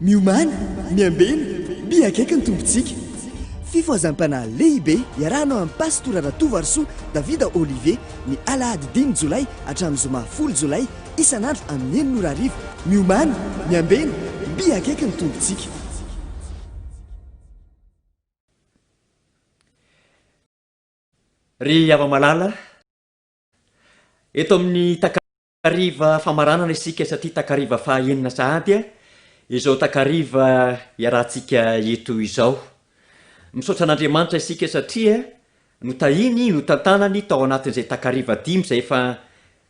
Miomàna, miambena, miakaiky ny Tompontsika. Fifohazam-panahy lehibe iarahanao amin'i Pastora Ratovoarisoa Davida Olivier ny alahady dimy jolay hatramin'ny zoma folo jolay Isan'andro amin'ny enina ora hariva, miomàna, miambena, mby akaiky ny Tompontsika. Ry hava-malala, eto amin'ny takariva famaranana isika satria takariva faha enina sahady izao takariva iarahantsika eto izao. Misaotra an'Andriamanitra isika satria Notahiny, notantanany tao anatin'izay takariva dimy izay efa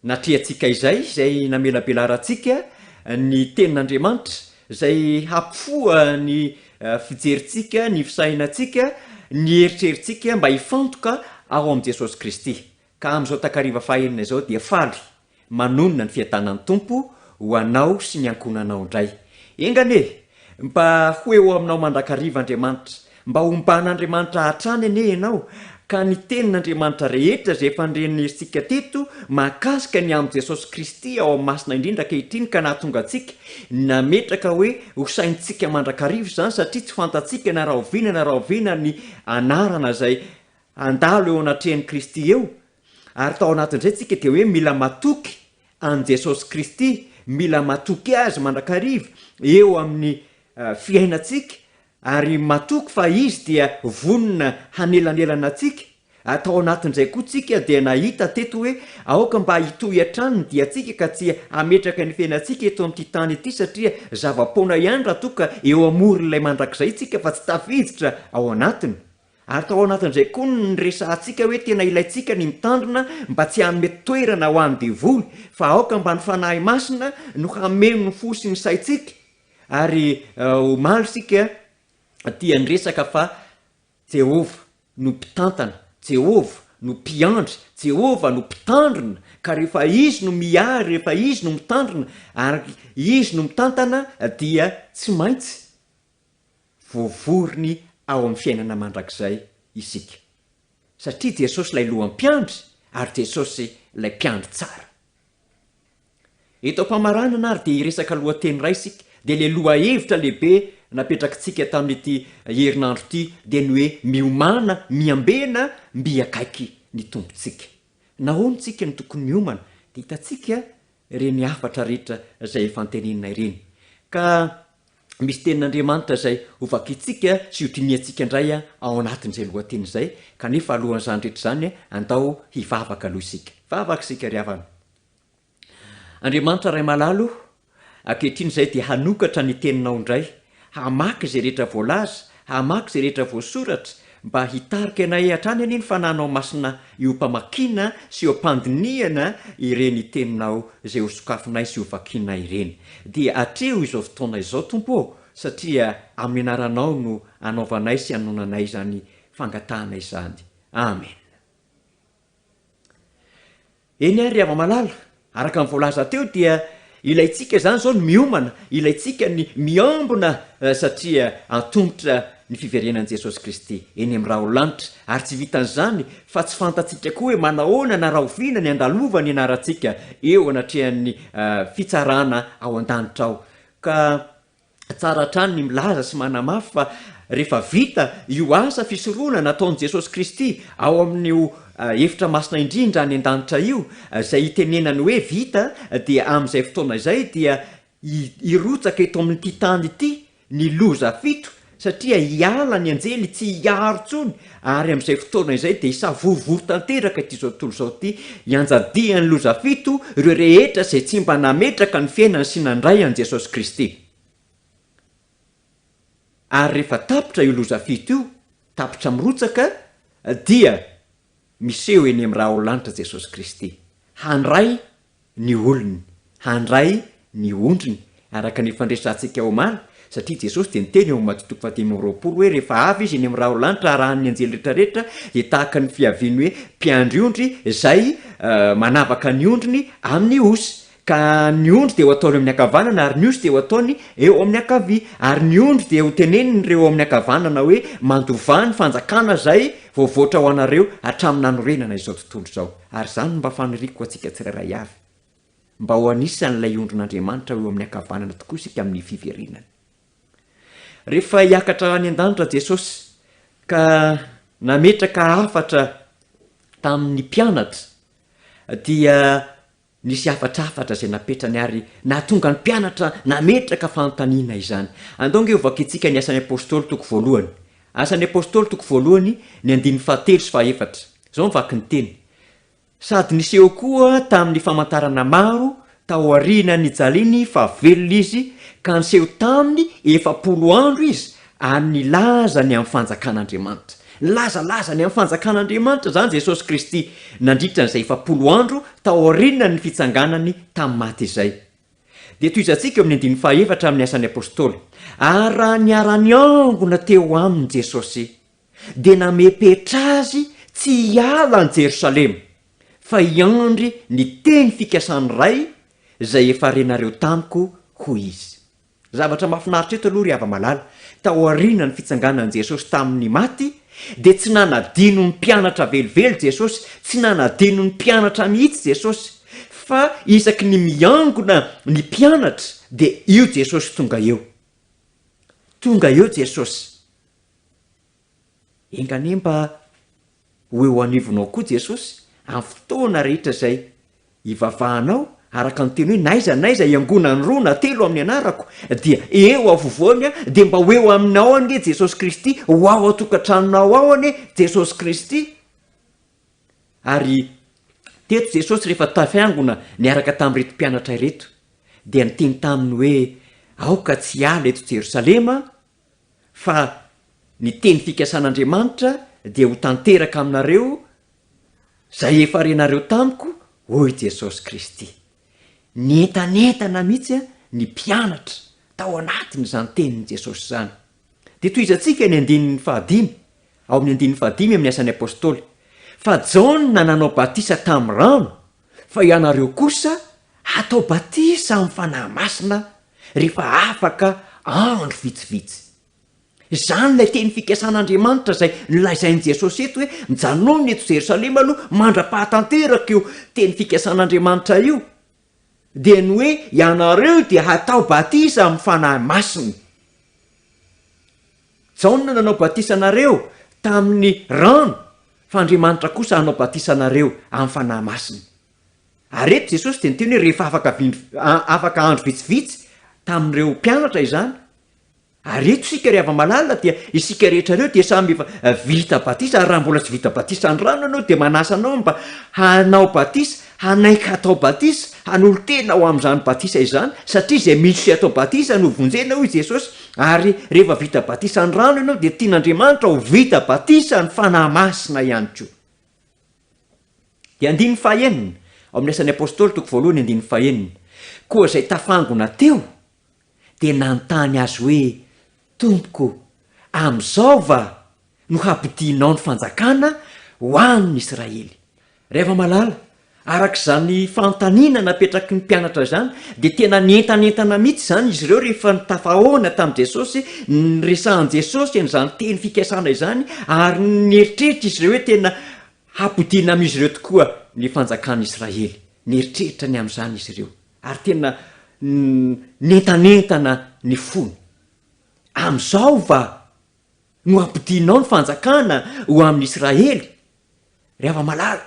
natrehantsika izay, izay namelabelarantsika ny Tenin'Andriamanitra, izay hampifoha ny fijerintsika, ny fisainantsika, ny eritreritsika mba hifantoka ao amin'i Jesosy Kristy. Ka amin'izao takariva fahaenina izao dia faly Manonona ny fiadanan'ny Tompo ho anao sy ny ankohonanao indray. Enga anie! Mba ho eo aminao mandrakariva Andriamanitra. Mba homban'Andriamanitra hatrany anie ianao, ka ny tenin'Andriamanitra rehetra izay efa niren'ny herintsika teto mahakasika ny amin'i Jesosy Kristy ao amin'ny Masina Indrindra ankehitriny ka nahatonga antsika nametraka hoe ho saintsika mandrakariva izany satria tsy fantatsika na rahoviana na rahoviana ny anarana izay handalo eo anatrehan'i Kristy eo Ary tao anatin'izay tsika dia hoe mila matoky an'i Jesosy Kristy, mila matoky Azy mandrakariva eo amin'ny fiainantsika, ary matoky fa Izy dia vonona hanelanelana antsika, ary tao anatin'izay koa tsika dia nahita teto hoe aoka mba hitohy hatrany ny diantsika ka tsy hametraka ny fiainantsika eto amin'ity tany ity satria zava-poana ihany raha toa ka eo amoron'ilay mandrakizay tsika fa tsy tafiditra ao anatiny. Ary tao anatin'izay koa no niresahantsika hoe tena ilaintsika ny mitandrina mba tsy hanome toerana ho an'ny devoly, fa aoka mba ny Fanahy Masina no hameno ny fo sy ny saintsika, ary omaly isika dia niresaka fa Jehovah no mpitantana, Jehovah no mpiandry, Jehovah no mpitandrina, ka rehefa Izy no miahy, rehefa Izy no mitandrina, ary Izy no mitantana dia tsy maintsy. Voavoriny ao amin'ny fiainana mandrakizay isika, satria Jesosy ilay lohan'ny mpiandry ary Jesosy ilay mpiandry tsara. Eto am-pamaranana ary dia hiresaka lohateny iray isika, dia ilay lohahevitra lehibe napetrakitsika tamin'ity herinandro ity dia ny hoe miomana miambena mby akaiky ny Tompontsika. Nahoana isika no tokony miomana? Dia hitantsika ireny hafatra rehetra izay efa anteneninay ireny. Ka misy tenin'Andriamanitra izay hovakintsika sy hodinihantsika indray ao anatin'izay lohateny izay, kanefa alohan'izany rehetra izany, andao hivavaka aloha isika. Vavaka isika ry havana. Andriamanitra Ray malala o, ankehitriny izahay dia hanokatra ny Teninao indray, hamaky izay rehetra voalaza, Hamaky izay rehetra voasoratra mba hitarika anay hatrany anie ny fananao masina eo am-pamakiana sy eo am-pandinihana ireny teninao izay hosokafinay sy hovakianay ireny. Dia hatreho izao fotoana izao, Tompo ô, satria amin'ny anaranao no anaovanay sy anonanay izany fangatahana izany. Amena. Eny ary Ravamalala, araka ny voalaza teo dia ilaintsika izany izao ny miomana, ilaintsika ny miambina satria antomotra ny fiverenan'i Jesosy Kristy eny amin'ny rahona lanitra ary tsy vitan'izany fa tsy fantatsika koa hoe manahoana na rahoviana ny handalova ny anarantsika eo anatrehan'ny fitsarana ao an-danitra ao ka Tsara hatrany ny milaza sy manamafy fa rehefa vita io asa fisorohana nataon'i Jesosy Kristy ao amin'io efitra masina indrindra any an-danitra io, izay itenenany hoe vita, dia amin'izay fotoana izay dia hirotsaka eto amin'ity tany ity ny loza fito, satria hiala ny anjely tsy hiaro intsony Ary amin'izay fotoana izay dia hisavorovoro tanteraka ity izao tontolo izao ity, hianjadian'ny loza fito ireo rehetra izay tsy mba nametraka ny fiainany sy nandray an'i Jesosy Kristy. Ary rehefa tapitra io loza fito io, tapitra mirotsaka, dia miseho eny amin'ny raharaolanitra Jesosy Kristy, handray ny olony handray ny ondriny araka ny fandresantsika omaly satria Jesosy dia niteny ao amin'ny Maty toko fahadimy amby roapolo hoe rehefa avy Izy eny amin'ny raholanitra arahan'ny anjely rehetra rehetra dia tahaka ny fiavian'ny hoe mpiandry ondry izay manavaka ny ondriny amin'ny osy ka ny ondry dia ho ataony eo amin'ny ankavanana ary ny osy dia ho ataony eo amin'ny ankavia ary ny ondry dia ho tenenin'ireo eo amin'ny ankavanana hoe mandovà ny fanjakana izay voavoatra ho anareo hatramin'ny nanorenana izao tontolo izao. Ary izany no mba faniriako ho antsika tsirairay avy, mba ho anisan'ilay ondrin'Andriamanitra eo amin'ny ankavanana tokoa isika amin'ny fiverenany. Rehefa hiakatra any an-danitra Jesosy ka nametraka hafatra tamin'ny mpianatra dia Nisy hafatra hafatra izay napetrany ary nahatonga ny mpianatra nametraka fanontaniana izany. Andao ange hovakintsika ny Asan'ny Apostoly toko voalohany. Asan'ny Apostoly toko voalohany, ny andininy fahatelo sy fahaefatra. Izao ny vakin'ny teny, Sady niseho koa tamin'ny famantarana maro tao aoriana nijaliany fa velona izy, ka niseho taminy efapolo andro izy Ary nilaza ny amin'ny Fanjakan'Andriamanitra. Nilazalaza ny amin'ny Fanjakan'Andriamanitra izany Jesosy Kristy nandritra an'izay efapolo andro taorianan'ny fitsanganany tamin'ny maty izay. Dia tohizantsika eo amin'ny andininy fahaefatra amin'ny Asan'ny Apostoly, Ary raha niara-niangona teo aminy Jesosy, dia namepetra azy tsy hiala any Jerosalema, fa hiandry ny teny fikasan'ny Ray izay efa renareo tamiko, hoy izy. Zavatra mahafinaritra eto aloha ry hava-malala, taorianan'ny fitsanganan'i Jesosy tamin'ny maty, dia tsy nanadino ny mpianatra velively Jesosy, tsy nanadino ny mpianatra mihitsy Jesosy, fa isaky ny miangona ny mpianatra dia io Jesosy tonga eo. Tonga eo Jesosy. Enga anie mba ho eo anivonao koa Jesosy amin'ny fotoana rehetra izay ivavahanao araka ny teny hoe n'aiza n'aiza iangonan'ny roa na telo amin'ny anarako dia eo afovoany aho dia mba ho eo aminao anie Jesosy Kristy ho ao an-tokantranonao ao anie Jesosy Kristy ary teto Jesosy rehefa tafiangona niaraka tamin'ireto mpianatra ireto dia niteny taminy hoe aoka tsy hiala eto Jerosalema fa ny teny fikasan'Andriamanitra dia ho tanteraka aminareo izay efa renareo tamiko, hoy Jesosy Kristy. Nientanentana mihitsy ny mpianatra tao anatin'izany tenin'i Jesosy izany. Dia tohizantsika ny andininy fahadimy, ao amin'ny andininy fahadimy amin'ny Asan'ny Apostoly, fa Jaona nanao batisa tamin'ny rano, Fa ianareo kosa hatao batisa amin'ny Fanahy Masina rehefa afaka andro vitsivitsy. Izany ilay teny fikasan'Andriamanitra izay nolazain'i Jesosy eto hoe, Mijanòna eto Jerosalema aloha mandra-pahatanteraka io teny fikasan'Andriamanitra io, dia ny hoe ianareo dia hatao batisa amin'ny Fanahy Masina. Jaona nanao batisa anareo tamin'ny rano, fa Andriamanitra kosa hanao batisa anareo amin'ny Fanahy Masina. Ary eto Jesosy dia niteny hoe rehefa afaka vin- afaka andro vitsivitsy tamin'ireo mpianatra izany, ary eto isika ry hava-malala dia isika rehetra ireo dia samy efa vita batisa, ary raha mbola tsy vita batisa ny rano ianao dia manasa anao mba hanao batisa Hanaiky hatao batisa, hanolo-tena ho amin'izany batisa izany, satria izay misy sy atao batisa no vonjena, hoy Jesosy, ary rehefa vita batisa ny rano ianao dia tian'Andriamanitra ho vita batisa ny Fanahy Masina ihany koa. Dia andininy fahaenina, ao amin'ny Asan'ny Apostoly, toko voalohany, andininy fahaenina, Koa izay tafangona teo dia nanontany Azy hoe, Tompoko, amin'izao va no hampodianao ny fanjakana ho an'ny Israely? Ry hava-malala, araka izany fanontaniana napetraky ny mpianatra izany, dia tena nientanentana mihitsy izany izy ireo rehefa tafahaona tamin'i Jesosy, niresahan'i Jesosy an'izany teny fikasana izany, ary nieritreritra izy ireo hoe tena hampodiana amin'izy ireo tokoa ny fanjakan'Israely. Nieritreritra ny amin'izany izy ireo. Ary tena nentanentana ny fony. Amin'izao va no hampidinao ny fanjakana ho amin'ny Israely? Ry hava-malala,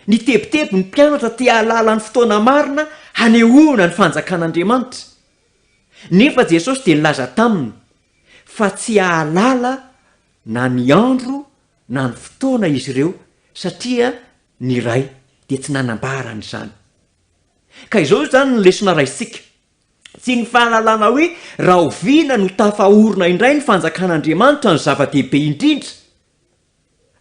nitebiteby ny mpianatra te hahalala ny fotoana marina hanehoana ny Fanjakan'Andriamanitra. Nefa Jesosy dia nilaza taminy fa tsy hahalala na ny andro na ny fotoana izy ireo, satria ny Ray dia tsy nanambara an'izany. Ka izao izany ny lesona raisintsika. Tsy ny fahalalana hoe rahoviana no tafaorina indray ny fanjakan'Andriamanitra no zava-dehibe indrindra,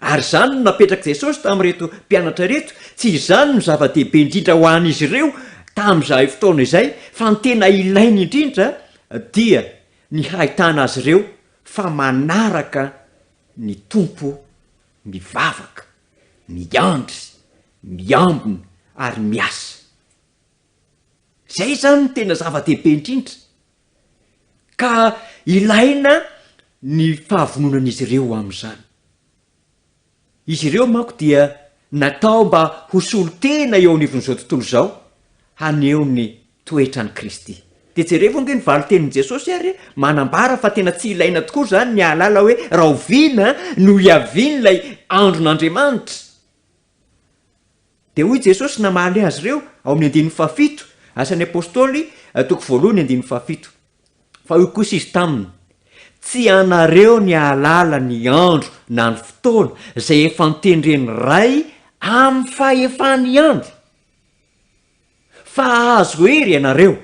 ary izany no napetrak'i Jesosy tamin'ireto mpianatra ireto, tsy izany no zava-dehibe indrindra ho an'izy ireo tamin'izahay fotoana izay, fa ny tena ilainy indrindra dia ny hahitana azy ireo fa manaraka ny Tompo mivavaka, miandry miambina ary miasa. Izay izany no tena zava-dehibe indrindra, ka ilaina ny fahavononan'izy ireo amin'izany. Izy ireo manko dia natao mba ho solontena eo anivon'izao tontolo izao, haneho ny toetran'i Kristy. Dia jerevo ange ny valin-tenin'i Jesosy ary, manambara fa tena tsy ilaina tokoa izany ny hahalala hoe rahoviana no hiavian'ilay andron'Andriamanitra. Dia hoy Jesosy namaly azy ireo ao amin'ny andininy fahafito, Asan'ny Apostoly, toko voalohany andininy fahafito. Fa hoy kosa izy taminy, Tsy anareo ny hahalala ny andro na ny fotoana izay efa notendren'ny Ray amin'ny fahefan'ny andro. Fa hahazo hery ianareo,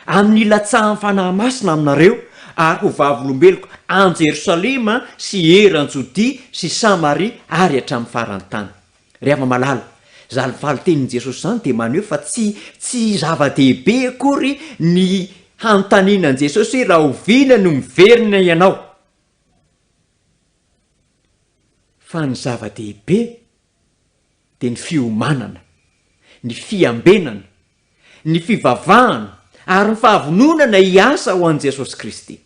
amin'ny hilatsahan'ny Fanahy Masina aminareo, ary ho vavolombeloko any Jerosalema sy eran'i Jodia sy Samaria ary hatramin'ny faran'ny tany. Ry havana malala, izany valin-tenin'i Jesosy izany dia maneho fa tsy tsy zava-dehibe akory ny hanontaniana an'i Jesosy hoe rahoviana no miverina ianao, fa ny zava-dehibe dia ny fiomanana, ny fiambenana, ny fivavahana ary ny fahavononana hiasa ho an'i Jesosy Kristy.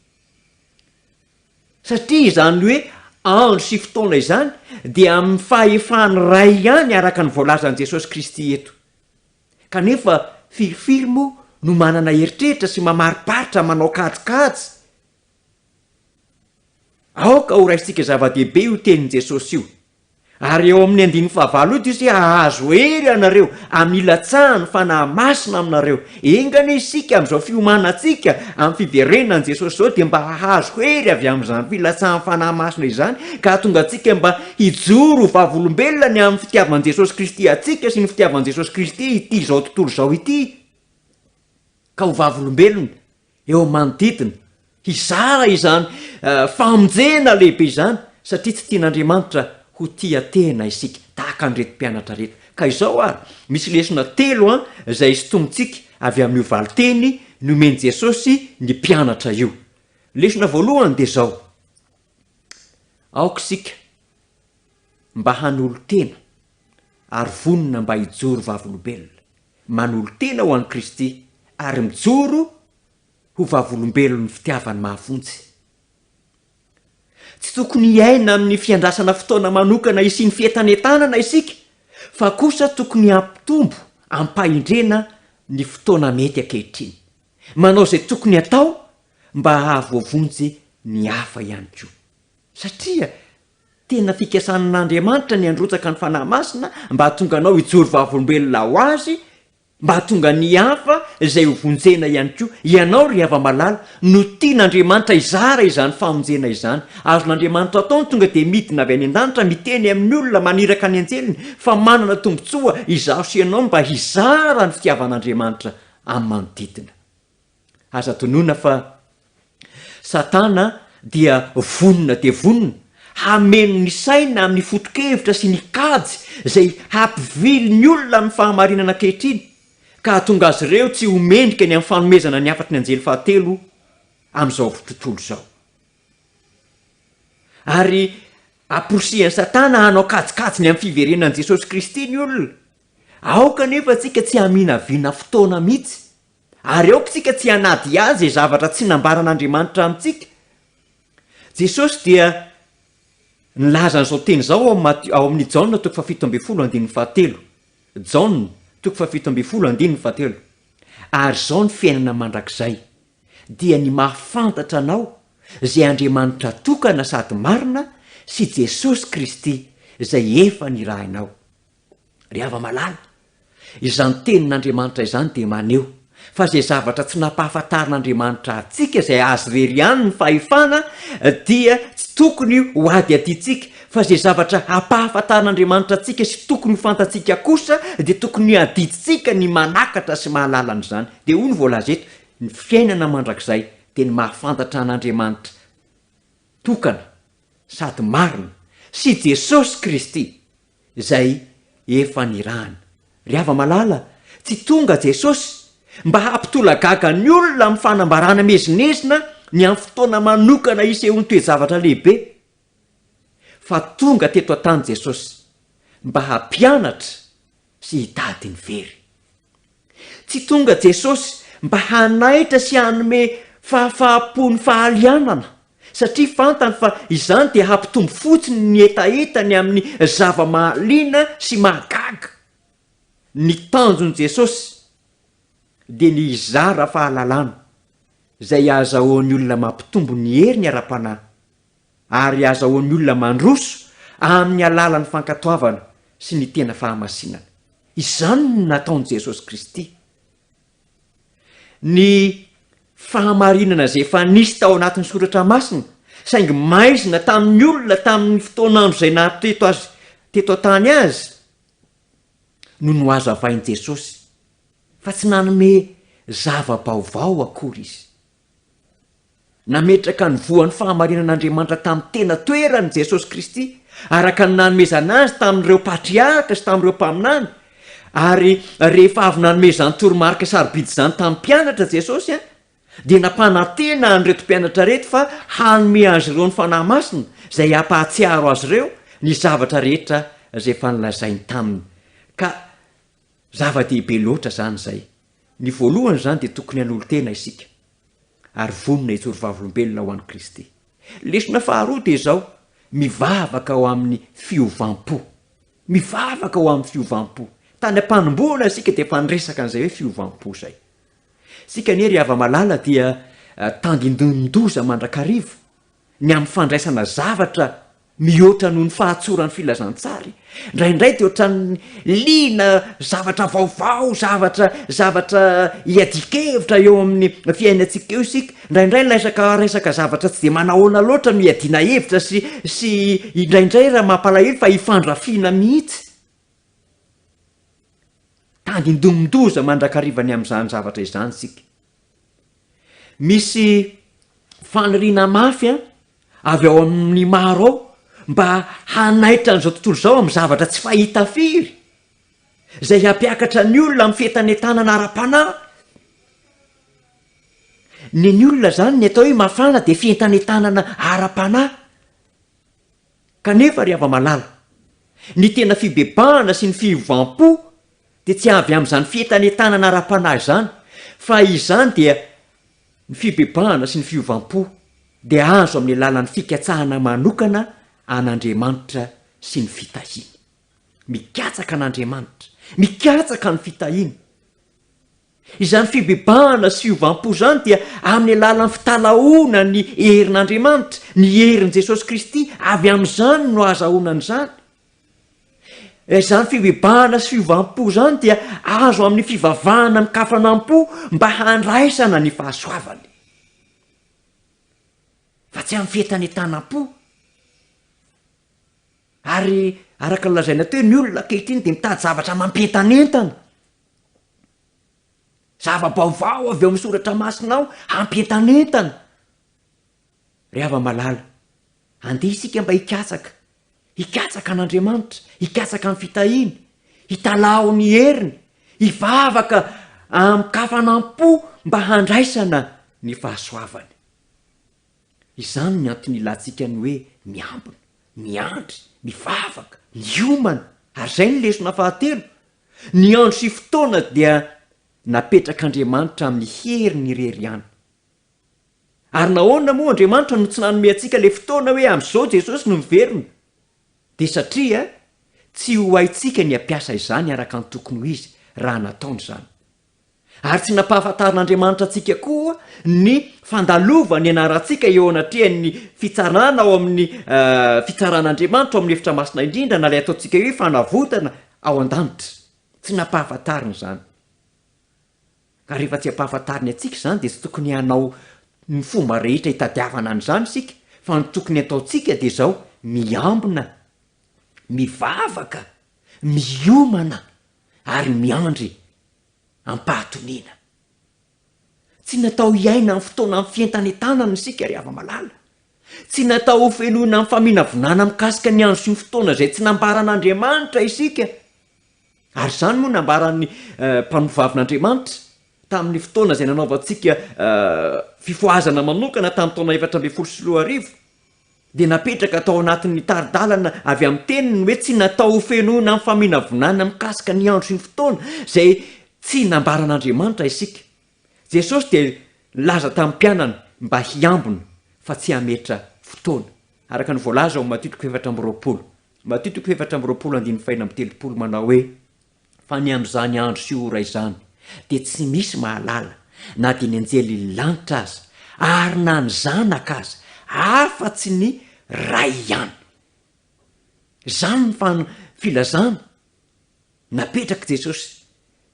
Satria izany hoe andro sy fotoana izany dia amin'ny fahefan'ny Ray ihany araka ny voalazan'i Jesosy Kristy eto. Kanefa firifiry moa no manana eritreritra sy mamariparitra manao kajikajy? Aoka ho raisintsika zava-dehibe io tenin'i Jesosy io. Ary eo amin'ny andininy fahavalo io dia Izy hoe, Hahazo hery ianareo, hamilatsaha ny Fanahy Masina aminareo. Enga anie isika amin'izao fiomanantsika amin'ny fiverenan'i Jesosy izao dia mba hahazo hery avy amin'izany filatsahan'ny Fanahy Masina izany ka hahatonga antsika mba hijoro ho vavolombelona ny amin'ny fitiavan'i Jesosy Kristy antsika sy ny fitiavan'i Jesosy Kristy ity izao tontolo izao ity ka ho vavolombelona eo manodidina, hizara izany famonjena lehibe izany, satria tsy tian'Andriamanitra ho tia tena isika, tahaka an'ireto mpianatra ireto. Ka izao ary, misy lesona telo an, izay isintomintsika avy amin'io valinteny nomen'i Jesosy ny mpianatra io. Lesona voalohany dia izao, aoka isika mba hanolo-tena ary vonona mba hijoro vavolombelona. manolo-tena ho an'i Kristy ary mijoro ho vavolombelon'ny fitiavany mahafonjy. Tsy tokony hiaina amin'ny fiandrasana fotoana manokana hisian'ny fientanentanana isika, fa kosa tokony hampitombo amim-pahendrena ny fotoana mety ankehitriny, manao izay tokony hatao mba hahavoavonjy ny hafa ihany koa. Satria Tena fikasanan'Andriamanitra ny handrotsaka ny Fanahy Masina mba hahatonga anao hijoro vavolombelona ho Azy, mba hahatonga ny hafa izay ho vonjena ihany koa. Ianao ry hava-malala no tian'Andriamanitra hizara izany famonjena izany. Azon'Andriamanitra atao ny tonga dia midina avy any an-danitra miteny amin'ny olona maniraka ny anjeliny fa manana tombontsoa izaho sy ianao mba hizara ny fitiavan'Andriamanitra amin'ny manodidina. Aza adinoina fa Satana dia vonona dia vonona hameno ny saina amin'ny foto-kevitra sy ny kajy izay hampivily ny olona amin'ny fahamarinana ankehitriny ka hahatonga azy ireo tsy ho mendrika ny amin'ny fanomezana ny hafatry ny anjely fahatelo amin'izao tontolo izao. Ary amporisihan'i Satana hanao kajikajy ny amin'ny fiverenan'i Jesosy Kristy ny olona. Aoka anefa isika tsy haminavina fotoana mihitsy. Ary aokantsika tsy hanadihady izay zavatra tsy nambaran'Andriamanitra amintsika. Jesosy dia nilaza an'izao teny izao ao amin'ny ao amin'ny Jaona toko fahafito ambin'ny folo andininy fahatelo. Jaona toko fahafito ambin'ny folo andininy fahatelo. Ary izao ny fiainana mandrakizay, dia ny mahafantatra anao, izay Andriamanitra tokana sady marina, sy Jesosy Kristy, izay efa nirahinao. Ry hava-malala, izany tenin'Andriamanitra izany dia maneho fa izay zavatra tsy nampahafantarin'Andriamanitra antsika izay Azy irery ihany ny fahefana dia tsy tokony ho adiadintsika, fa izay zavatra hampahafantarin'Andriamanitra antsika sy tokony ho fantatsika kosa dia tokony hadidintsika ny manakatra sy mahalala an'izany. Dia hoy ny voalaza eto, ny fiainana mandrakizay dia ny mahafantatra an'Andriamanitra. tokana sady marina sy Jesosy Kristy izay efa nirahana. Ry hava-malala, tsy tonga Jesosy mba hampitolagaga ny olona amin'ny fanambarana miezinezina ny amin'ny fotoana manokana isehoan'ny toe-javatra lehibe, fa tonga teto an-tany Jesosy mba hampianatra, sy hitady ny very. Tsy tonga Jesosy mba hanaitra sy hanome fahafaham-po ny fahalianana, satria fantany fa izany dia hampitombo fotsiny ny hetahetany amin'ny zava-mahaliana sy mahagaga. Ny tanjon'i Jesosy dia ny hizara fahalalana izay ahazahoan'ny olona mampitombo ny heriny ara-panahy. ary azahoan'ny olona mandroso amin'ny alalan'ny fankatoavana sy ny tena fahamasinana. Izany no nataon'i Jesosy Kristy. Ny fahamarinana izay efa nisy tao anatin'ny Soratra Masina, saingy maizina tamin'ny olona tamin'ny fotoan'andro izay naha-teto azy teto an-tany azy, no nohazavain'i Jesosy, fa tsy nanome zava-baovao akory izy. Nametraka ny voan'ny fahamarinan'Andriamanitra tamin'ny tena toerany i Jesosy Kristy, araka ny nanomezana azy tamin'ireo patriarka sy tamin'ireo mpaminany, ary rehefa avy nanome izany toromarika sarobidy izany tamin'ny mpianatra Jesosy, dia nampanantena an'ireto mpianatra ireto fa hanome azy ireo ny Fanahy Masina izay hampahatsiaro azy ireo ny zavatra rehetra izay efa nolazainy taminy, ka Zava-dehibe loatra izany izay. Ny voalohany izany dia tokony hanolo-tena isika ary vonona hijoro vavolombelona ho an'i Kristy. Lesona faharoa dia izao, mivavaka ho amin'ny fiovam-po. Mivavaka ho amin'ny fiovam-po. Tany am-panombohana isika dia efa niresaka an'izay hoe fiovam-po izay. Isika anie ry hava-malala dia eh, tandindonin-doza mandrakariva ny amin'ny fandraisana zavatra mihoatra noho ny fahatsoran'ny filazantsary. Indraindray dia ohatran'ny liana zavatra vaovao, zavatra, zavatra iadian-kevitra eo amin'ny fiainantsika eo isika. Indraindray laisaka resaka zavatra tsy dia manahoana loatra no iadiana hevitra sy, sy indraindray raha mampalahelo fa ifandrafiana mihitsy. Tandindomin-doza mandrakariva ny amin'izany zavatra izany isika. Misy faniriana mafy avy ao amin'ny maro ao mba hanaitra an'izao tontolo izao amin'ny zavatra tsy fahita firy, izay hampiakatra ny olona amin'ny fientanentanana ara-panahy. Ny ny olona izany ny atao hoe mafana dia fientanentanana ara-panahy. Kanefa ry hava-malala, ny tena fibebahana sy ny fiovam-po dia tsy avy amin'izany fientanentanana ara-panahy izany, fa izany dia ny fibebahana sy ny fiovam-po dia azo amin'ny alalan'ny fikatsahana manokana an'Andriamanitra sy ny fitahiany. Mikatsaka an'Andriamanitra, mikatsaka ny fitahiany. Izany fibebahana sy fiovam-po izany dia amin'ny alalan'ny fitalahoana ny herin'Andriamanitra, ny herin'i Jesosy Kristy, avy amin'izany no ahazahoana an'izany. Izany fibebahana sy fiovam-po izany dia azo amin'ny fivavahana an-kafanam-po mba handraisana ny fahasoavany, fa tsy amin'ny fientanentanam-po. Ary araka ny lazaina teo, ny olona ankehitriny dia mitady zavatra mampientanentana. Zava-baovao avy ao amin'ny soratra masinao hampientanentana. Ry hava-malala, andeha isika mba hikatsaka, hikatsaka an'Andriamanitra, hikatsaka ny fitahiany, hitalaho ny heriny, hivavaka amin-kafanam-po mba handraisana ny fahasoavany. Izany ny antony ilantsika ny hoe miambina, miandry, mivavaka, miomana. Ary izay ny lesona fahatelo, Ny andro sy fotoana dia napetrak'Andriamanitra amin'ny heriny irery ihany. Ary nahoana moa Andriamanitra no tsy nanome antsika ilay fotoana hoe amin'izao Jesosy no miverina? Dia satria tsy ho haintsika ny hampiasa izany araka ny tokony ho izy raha nataony izany. ary tsy nampahafantarin'Andriamanitra antsika koa ny fandalovany anarantsika eo anatrehan'ny fitsarana ao amin'ny fitsaran'Andriamanitra ao amin'ny efitra masina indrindra na ilay ataontsika hoe fanavotana ao an-danitra. Tsy nampahafantariny izany. Ka rehefa tsy ampahafantariny antsika izany dia tsy tokony hanao ny fomba rehetra hitadiavana an'izany isika fa ny tokony ataontsika dia izao miambina, mivavaka, miomana ary miandry ampahatoniana. Tsy natao hiaina amin'ny fotoanan'ny fientanentanana isika ry hava-malala. Tsy natao ho fenoina amin'ny faminavinana mikasika ny andro sy ny fotoana izay tsy nambaran'Andriamanitra isika. Ary izany moa nambaran'ny mpanovavin'Andriamanitra tamin'ny fotoana izay nanaovantsika fifohazana manokana tamin'ny taona efatra ambin'ny folo sy roa arivo. dia napetraka tao anatin'ny tari-dalana avy amin'ny teniny ny hoe tsy natao ho fenoina amin'ny faminavonana mikasika ny andro sy ny fotoana izay tsy nambaran'Andriamanitra isika. Jesosy dia nilaza tamin'ny mpianany mba hiambina fa tsy hametra fotoana, araka ny voalaza ao Matio toko efatra amby roapolo, Matio toko efatra amby roapolo andininy fahena amby telopolo, manao hoe, Fa ny amin'izany andro sy ora izany dia tsy misy mahalala, na dia ny anjelin'ny lanitra aza, ary na ny Zanaka aza, afa-tsy ny Ray ihany. Izany ny fan, filazana napetrak'i Jesosy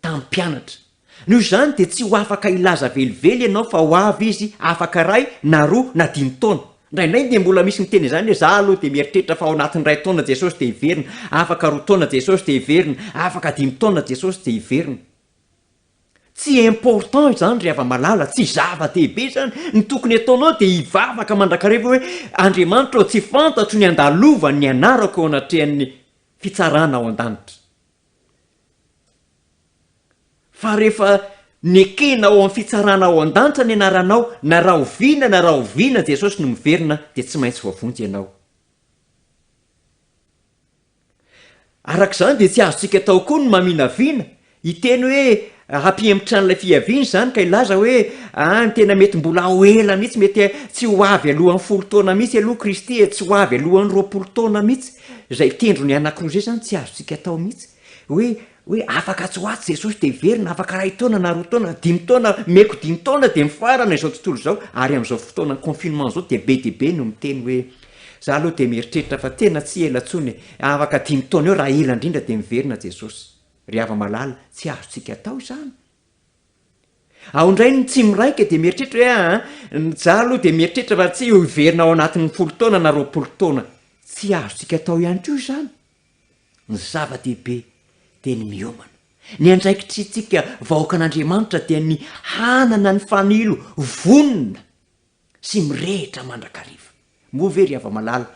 tamin'ny mpianatra. Noho izany dia tsy ho afaka hilaza velively ianao fa ho avy izy afaka iray na roa na dimy taona. Indraindray dia mbola misy miteny izany hoe, za aloha dia mieritreritra fa ao anatin'ny iray taona Jesosy dia hiverina, afaka roa taona Jesosy dia hiverina, afaka dimy taona Jesosy dia hiverina. Tsy important izany ry hava-malala, tsy zava-dehibe izany. Ny tokony ataonao dia hivavaka mandrakariva hoe, Andriamanitra ô, tsy fantatro ny handalovan'ny anarako eo anatrehan'ny fitsarana ao an-danitra. Fa rehefa nekena ao amin'ny fitsarana ao an-danitra ny anaranao, na rahoviana na rahoviana Jesosy no miverina dia tsy maintsy voavonjy ianao. Araka izany dia tsy azontsika atao koa ny maminavina, hiteny hoe Hampihemotra an'ilay fiaviany izany ka hilaza hoe, Ah, ny tena mety mbola ho ela mihitsy, mety tsy ho avy alohan'ny folo taona mihitsy aloha Kristy e, tsy ho avy alohan'ny roapolo taona mihitsy. Izay tendrony anankiroa izay izany tsy azontsika atao mihitsy. Hoe, hoe afaka atsy ho atsy Jesosy dia hiverina, afaka iray taona na roa taona, dimy taona, meko dimy taona dia mifarana izao tontolo izao, ary amin'izao fotoanan'ny confinement izao dia be dia be no miteny hoe, Izaho aloha dia mieritreritra fa tena tsy ela intsony e, afaka dimy taona eo raha ela indrindra dia miverina Jesosy. Ry hava-malala, tsy azontsika atao izany. Ao indray ny tsy miraika dia mieritreritra hoe aa, ny za aloha dia mieritreritra fa tsy ho hiverina ao anatin'ny folo taona na roapolo taona. Tsy azontsika atao ihany koa izany. Ny zava-dehibe dia ny miomana. Ny andraikitrintsika vahoakan'Andriamanitra dia ny hanana ny fanilo vonona. sy mirehitra mandrakariva. Moa ve ry hava-malala,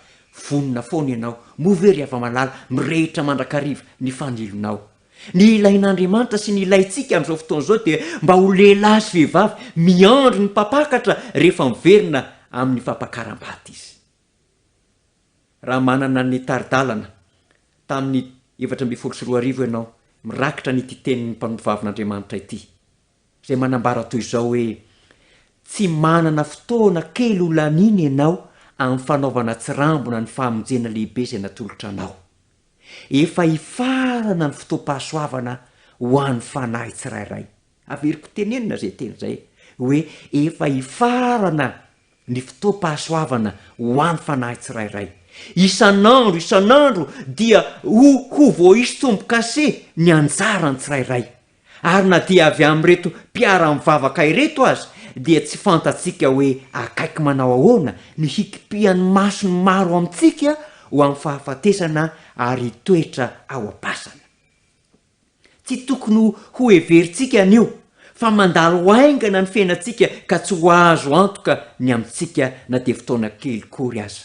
vonona foana ianao? Moa ve ry hava-malala, mirehitra mandrakariva ny fanilonao? Ny ilain'Andriamanitra sy ny ilaintsika amin'izao fotoana izao dia mba ho lehilahy sy vehivavy miandry ny Mpampakatra rehefa miverina amin'ny fampakaram-bady Izy. Raha manana ny tari-dalana tamin'ny efatra ambin'ny folo sy roa arivo ianao, mirakitra an'ity tenin'ny Mpanontovavin'Andriamanitra ity. izay manambara toy izao hoe, Tsy manana fotoana kely ho laniana ianao amin'ny fanaovana tsirambina ny famonjena lehibe izay natolotra anao. Efa hifarana ny fotoam-pahasoavana ho an'ny fanahy tsirairay. Averiko tenenina izay teny izay hoe efa hifarana ny fotoam-pahasoavana ho an'ny fanahy tsirairay. Isan'andro, isan'andro dia ho ho voaisy tombo-kase ny anjaran'ny tsirairay. Ary na dia avy amin'ireto mpiara-mivavaka ireto aza dia tsy fantatsika hoe akaiky manao ahoana ny hikipihan'ny mason'ny maro amintsika ho amin'ny fahafatesana ary hitoetra ao am-pasana. Tsy tokony hoheverintsika anio fa mandalo haingana ny fiainantsika ka tsy ho azo antoka ny amintsika na dia fotoana kely kory aza.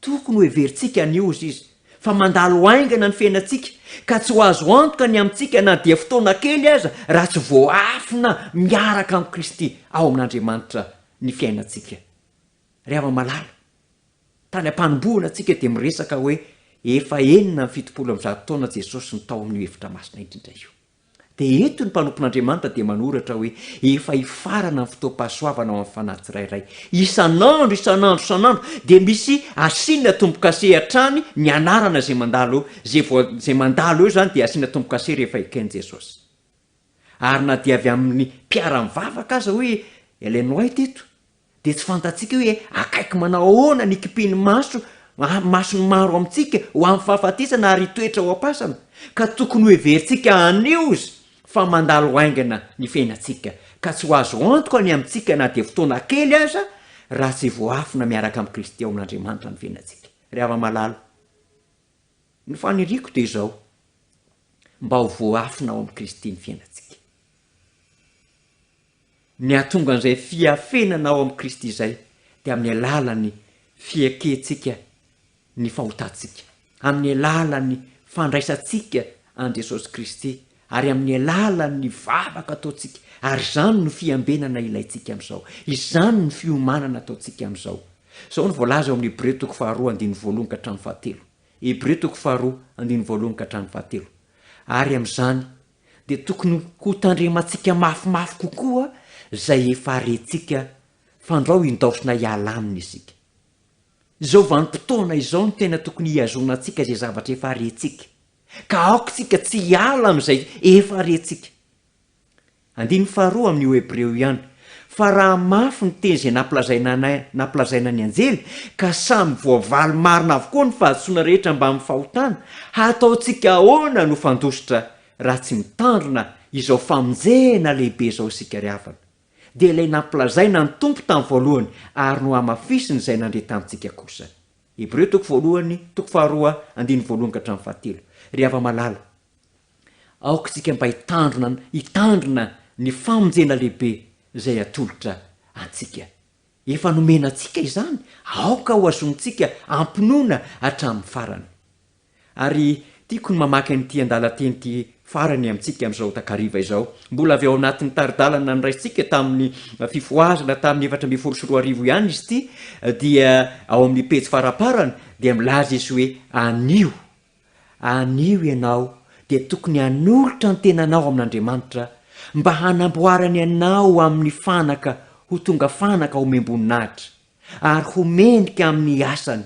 Tokony ho heverintsika anio hozy izy fa mandalo haingana ny fiainantsika ka tsy ho azo antoka ny amintsika na dia fotoana kely aza raha tsy voaafina miaraka amin'i Kristy ao amin'Andriamanitra ny fiainantsika. Ry hava-malala, tany am-panombohana tsika dia miresaka hoe efa enina amby fitopolo amby zato taona Jesosy no tao amin'io efitra masina indrindra io. Dia eto ny mpanompon'Andriamanitra dia manoratra hoe, Efa hifarana ny fotoam-pahasoavana ho an'ny fanahy tsirairay. Isan'andro, isan'andro, isan'andro dia misy asiana tombo-kase hatrany ny anarana izay mandalo eo. Izay voa, izay mandalo eo izany dia asiana tombo-kase rehefa eken'i Jesosy. Ary na dia avy amin'ny mpiara-mivavaka aza hoy Ellen White eto, Dia tsy fantatsika hoe akaiky manao ahoana ny hikipin'ny maso, mason'ny maro amintsika, ho amin'ny fahafatesana ary hitoetra ho am-pasana, ka tokony hoheverintsika hanios fa mandalo haingana ny fiainantsika, ka tsy ho azo antoka ny amintsika na dia fotoana kely aza, raha tsy voaafina miaraka amin'i Kristy ao amin'Andriamanitra ny fiainantsika. Ry hava-malala, ny faniriako dia izao, mba ho voaafina ao amin'i Kristy ny fiainantsika. Ny hahatonga an'izay fiafenana ao amin'i Kristy izay dia amin'ny alalan'ny fiekentsika ny fahotantsika, amin'ny alalan'ny fandraisantsika an'i Jesosy Kristy ary amin'ny alalan'ny vavaka ataontsika, ary izany no fiambenana ilaintsika amin'izao, izany no fiomanana ataontsika amin'izao. Izao no voalaza ao amin'ny Hebreo toko faharoa andininy voalohany ka hatramin'ny fahatelo, Hebreo toko faharoa andininy voalohany ka hatramin'ny fahatelo, Ary amin'izany dia tokony hotandremantsika mafimafy kokoa izay efa rentsika fandrao indaosina hiala aminy isika. Izao vanim-potoana izao no tena tokony hihazonantsika izay zavatra efa rentsika, ka aoka isika tsy hiala amin'izay efa rentsika. Andininy faharoa amin'ny Hebreo ihany Fa raha mafy ny teny izay nampilazaina an nampilazaina ny anjely, ka samy voavaly marina avokoa ny fahadisoana rehetra mbamin'ny fahotana, hataontsika ahoana no fandositra raha tsy mitandrina izao famonjena lehibe izao isika ry havana? Dia ilay nampilazaina ny Tompo tamin'ny voalohany ary nohamafisiny izay nandre tamintsika kosa. Hebreo toko voalohany toko faharoa andininy voalohany ka hatramin'ny fahatelo. Ry hava-malala, Aoka isika mba hitandrina hitandrina ny famonjena lehibe izay atolotra antsika. Efa nomena antsika izany, aoka ho azontsika ampinoana hatramin'ny farany. Ary tiako ny mamaky an'ity andalan-teny ity farany amintsika amin'izao takariva izao. Mbola avy ao anatin'ny tari-dalana noraisintsika tamin'ny fifohazana tamin'ny efatra ambin'ny folo sy roa arivo ihany izy ity, dia ao amin'ny pejy faramparany dia milaza izy hoe, Anio Anio ianao dia tokony hanolotra ny tenanao amin'Andriamanitra mba hanamboarany anao amin'ny fanaka ho tonga fanaka omem-boninahitra, ary ho mendrika amin'ny asany.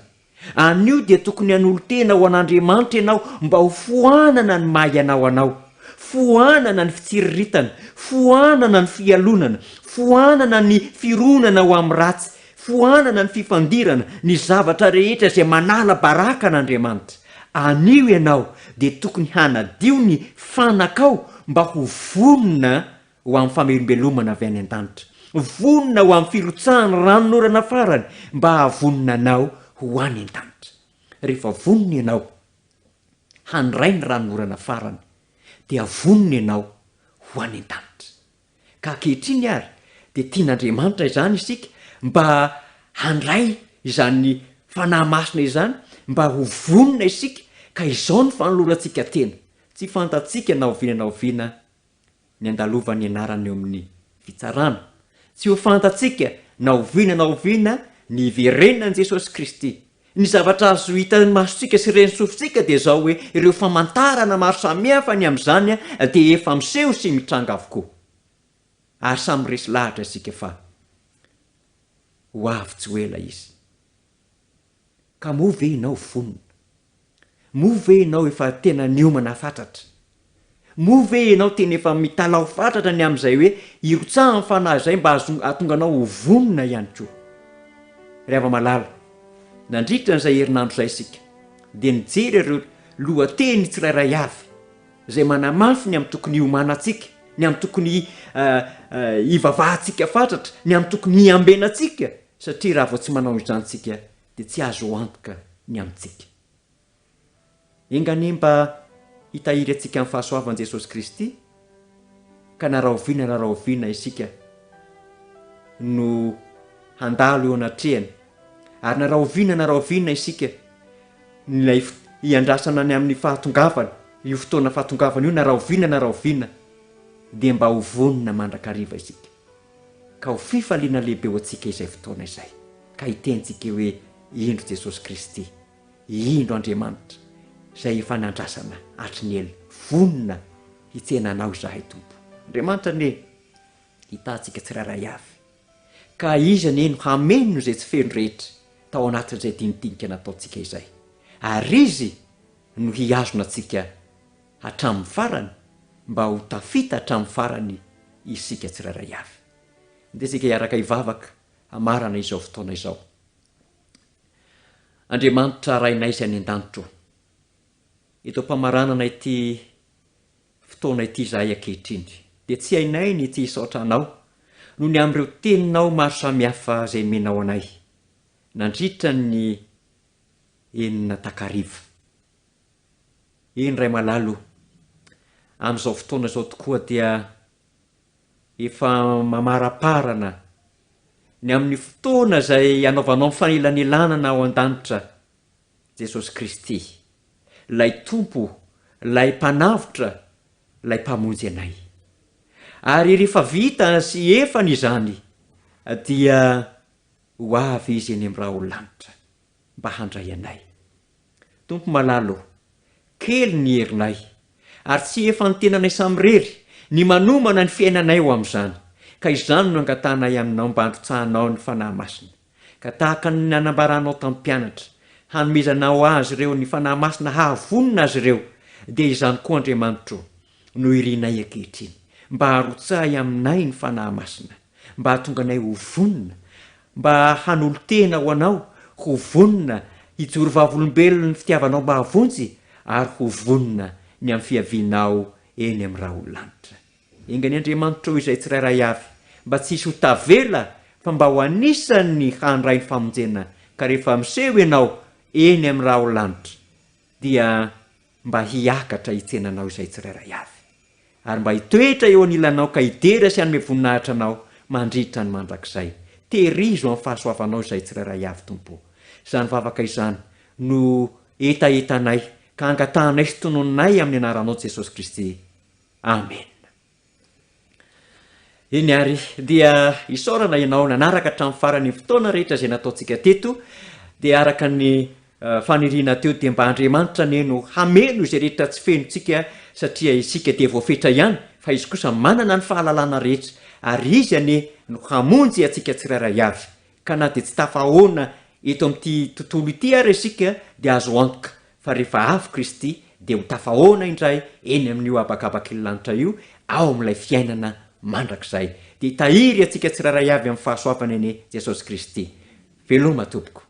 Anio dia tokony hanolo-tena ho an'Andriamanitra ianao mba ho foanana ny maha ianao anao, foanana ny fitsiriritana, foanana ny fialonana, foanana ny fironana ho amin'ny ratsy, Foanana ny fifandirana, ny zavatra rehetra izay manala baraka an'Andriamanitra. Anio ianao dia tokony hanadio ny fanakao mba ho vonona ho amin'ny famelombelomana avy any an-danitra. Vonona ho amin'ny firotsahan'ny ranon'orana farany mba hahavonona anao ho any an-danitra. Rehefa vonona ianao handray ny ranon'orana farany dia vonona ianao ho any an-danitra. ka ankehitriny ary dia tian'Andriamanitra izany isika mba handray izany Fanahy Masina izany mba ho vonona isika ka izao no fanolorantsika tena, tsy fantatsika na oviana na oviana ny andalovan'ny anarany eo amin'ny fitsarana, tsy ho fantatsika na oviana na oviana ny hiverenan'i Jesosy Kristy, Ny zavatra azo hitan'ny masontsika sy ren'ny sofintsika dia izao hoe ireo famantarana maro samihafa ny amin'izany dia efa miseho sy mitranga avokoa. Ary samy miresy lahatra isika fa ho avy tsy ho ela izy. Ka moa ve ianao vonona Moa ve ianao efa tena niomana fatratra? Moa ve ianao tena efa mitalaho fatratra ny amin'izay hoe hirotsahan'ny fanahy izay mba hahatonga anao ho vonona ihany koa? Ry hava-malala, nandritra an'izay herinandro izay isika dia nijery ireo lohateny tsirairay avy izay manamafy ny amin'ny tokony hiomanantsika, ny amin'ny tokony hivavahantsika fatratra, ny amin'ny tokony hiambenantsika satria raha vao tsy manao izany isika dia tsy azo antoka ny amintsika. Enga anie mba hitahiry antsika amin'ny fahasoavan'i Jesosy Kristy, ka na rahoviana na rahoviana isika no handalo eo anatrehany, ary na rahoviana na rahoviana isika ilay hiandrasana any amin'ny fahatongavany, io fotoana fahatongavany io na rahoviana na rahoviana, dia mba ho vonona mandrakariva isika. Ka ho fifaliana lehibe ho antsika izay fotoana izay ka hitentsika hoe, Indro Jesosy Kristy, indro Andriamanitra izay efa nandrasana hatry ny ela, vonona hitsena Anao izahay Tompo. Andriamanitra anie hitahantsika tsirairay avy. Ka Izy anie no hameno izay tsy feno rehetra tao anatin'izay dinidinika nataontsika izay. Ary Izy no hihazona antsika hatramin'ny farany mba ho tafita hatramin'ny farany isika tsirairay avy. Andeha isika hiaraka hivavaka hamarana izao fotoana izao. Andriamanitra Rainay izay any an-danitra ô, eto am-pamaranana ity fotoana ity izahay ankehitriny, dia tsy hainay ny tsy hisaotra Anao noho ny amin'ireo Teninao maro samihafa izay nomenao anay nandritra ny enina takariva. Eny ray malala o! Amin'izao fotoana izao tokoa dia efa mamaraparana ny amin'ny fotoana izay hanaovanao ny fanelanelanana ao an-danitra Jesosy Kristy, ilay Tompo, ilay Mpanavotra, ilay Mpamonjy anay. Ary rehefa vita sy efany izany dia ho avy Izy eny amin'ny raolanitra mba handray anay. Tompo malala ô, kely ny herinay, ary tsy efantenanay samirery ny manomana ny fiainanay ho amin'izany, ka izany no angatahanay Aminao mba handrotsahanao ny Fanahy Masina, ka tahaka ny nanambaranao tamin'ny mpianatra, hanomezanao azy ireo ny Fanahy Masina hahavonona azy ireo, dia izany koa Andriamanitro no irinay ankehitriny, mba harotsahy aminay ny Fanahy Masina. Mba hahatonga anay ho vonona, mba hanolo-tena ho Anao, ho vonona hijoro vavolombelon'ny fitiavanao mahavonjy, ary ho vonona ny amin'ny fiavianao eny amin'ny raholalanitra. Enga ny Andriamanitrao izay tsirairay avy mba tsy hisy ho tavela fa mba ho anisan'ny handray ny famonjena ka rehefa miseho Ianao eny amin'ny raholalanitra dia mba hiakatra hitsena anao izay tsirairay avy, ary mba hitoetra eo anilanao ka hidera sy hanome voninahitra anao mandritra ny mandrakizay. Tehirizo amin'ny fahasoavanao izay tsirairay avy, Tompo o. Izany vavaka izany no hetahetanay ka angatahanay sy tononinay amin'ny anaranao Jesosy Kristy. Amena. Eny ary, dia isaorana ianao nanaraka hatramin'ny farany ny fotoana rehetra izay nataontsika teto, dia araka ny faniriana teo dia mba Andriamanitra anie no hameno izay rehetra tsy fenontsika satria isika dia voafetra ihany fa Izy kosa manana ny fahalalana rehetra ary Izy anie no hamonjy antsika tsirairay avy Ka na dia tsy tafahaona eto amin'ity tontolo ity ary isika, dia azo antoka fa rehefa avy Kristy, dia ho tafahaona indray eny amin'io habakabak'ily lanitra io, ao amin'ilay fiainana mandrakizay. Dia hitahiry antsika tsirairay avy amin'ny fahasoavany anie Jesosy Kristy. Veloma tompoko.